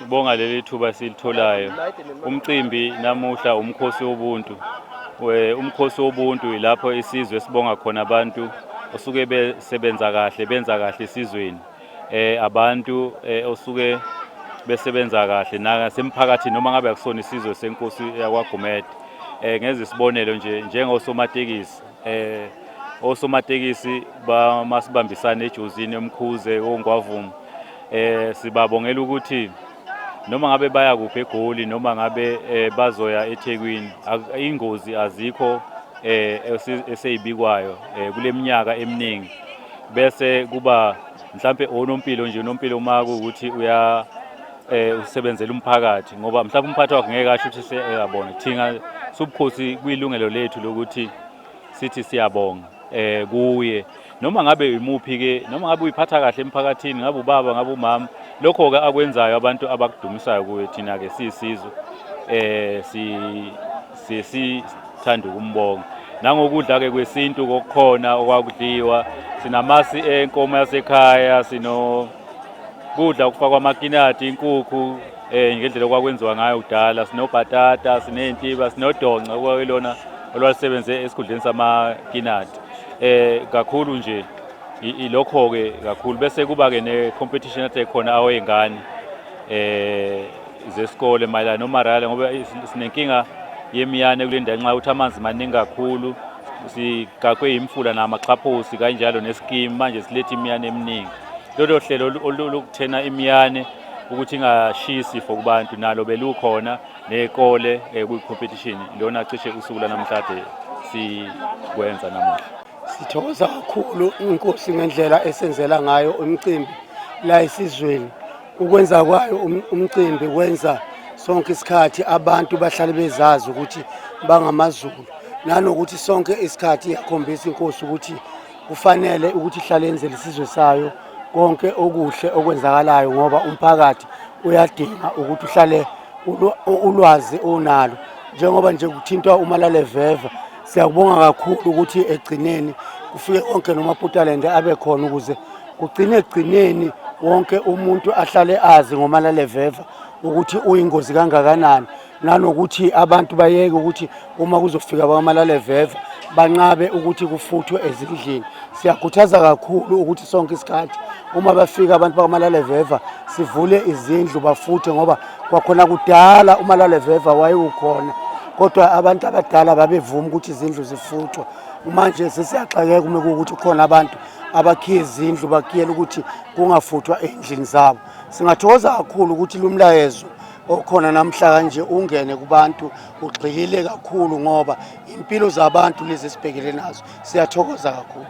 Sibonga leli thuba esilitholayo. Umcimbi namuhla umkhosi wobuntu. Umkhosi wobuntu yilapho isizwe sibonga khona abantu osuke besebenza kahle benza kahle esizweni. Eh abantu eh, osuke besebenza kahle nasemphakathini noma ngabe akusona isizwe senkosi yakwaGumede. Eh ngenza isibonelo nje njengosomatekisi eh osomatekisi bamasibambisane ejozini emkhuze ongwavumo Eh sibabongela ukuthi noma ngabe baya kuphi eGoli noma ngabe eh, bazoya eThekwini ingozi azikho eh eseyibikwayo eh, kuleminyaka eminingi bese kuba mhlambe onompilo nje unompilo uma kuukuthi uya eh usebenzela umphakathi ngoba mhlawumbe umphathi wakhe ngeke asho ukuthi seyabona thina subukhosi kuyilungelo lethu lokuthi sithi siyabonga eh kuye noma ngabe yimuphi ke noma ngabe uyiphatha kahle emphakathini ngabe ubaba ngabe umama lokho ke akwenzayo abantu abakudumisayo kuye thina ke sisizwe eh si sesithanda ukumbonga nangokudla ke kwesintu kokukhona okwakudliwa sinamasi enkomo yasekhaya sino kudla okufakwa amakinati inkukhu Eh ngendlela okwakwenziwa ngayo kudala sinobhatata, sineyintiba, sinodonca okwakuyilona olwalisebenze esikhundleni samakinati. Eh kakhulu nje ilokho ke kakhulu bese kuba ke ne competition athe khona awengane eh zesikole mayelana nomarala ngoba sinenkinga yemiyane kule ndawo nxa ukuthi amanzi maningi kakhulu sigaqwe yimfula namaxhaphosi kanjalo nesikimu manje siletha imiyane eminingi lolo hlelo olukuthena imiyane ukuthi ingashiyi isifo kubantu nalo belukhona nekole eh, kwi-competition lona cishe usuku lanamhlanje sikwenza namuhla sithokoza kakhulu inkosi ngendlela esenzela ngayo umcimbi la esizweni ukwenza kwayo um, umcimbi kwenza sonke isikhathi abantu bahlale bezazi ukuthi bangamazulu nanokuthi sonke isikhathi yakhombisa inkosi ukuthi kufanele ukuthi ihlale yenzele isizwe sayo konke okuhle okwenzakalayo ngoba umphakathi uyadinga ukuthi uhlale ulwazi onalo njengoba nje kuthintwa umalaleveva siyakubonga kakhulu ukuthi egcineni kufike konke nomaputalende abe khona ukuze kugcine egcineni wonke umuntu ahlale azi ngomalaleveva ukuthi uyingozi kangakanani nanokuthi abantu bayeke ukuthi uma kuzofika abakamalaleveva banqabe ukuthi kufuthwe ezindlini siyakhuthaza kakhulu ukuthi sonke isikhathi uma bafika abantu bakamalaleveva sivule izindlu bafuthe ngoba kwakhona kudala umalaleveva wayewukhona kodwa abantu abadala babevuma ukuthi izindlu zifuthwa manje sesiyaxakeka uma kuwukuthi khona abantu abakhiye izindlu bakiyela ukuthi kungafuthwa ey'ndlini zabo singathokoza kakhulu ukuthi lumlayezo okhona namhlanje ungene kubantu ugxilile kakhulu ngoba impilo zabantu lezi esibhekele nazo siyathokoza kakhulu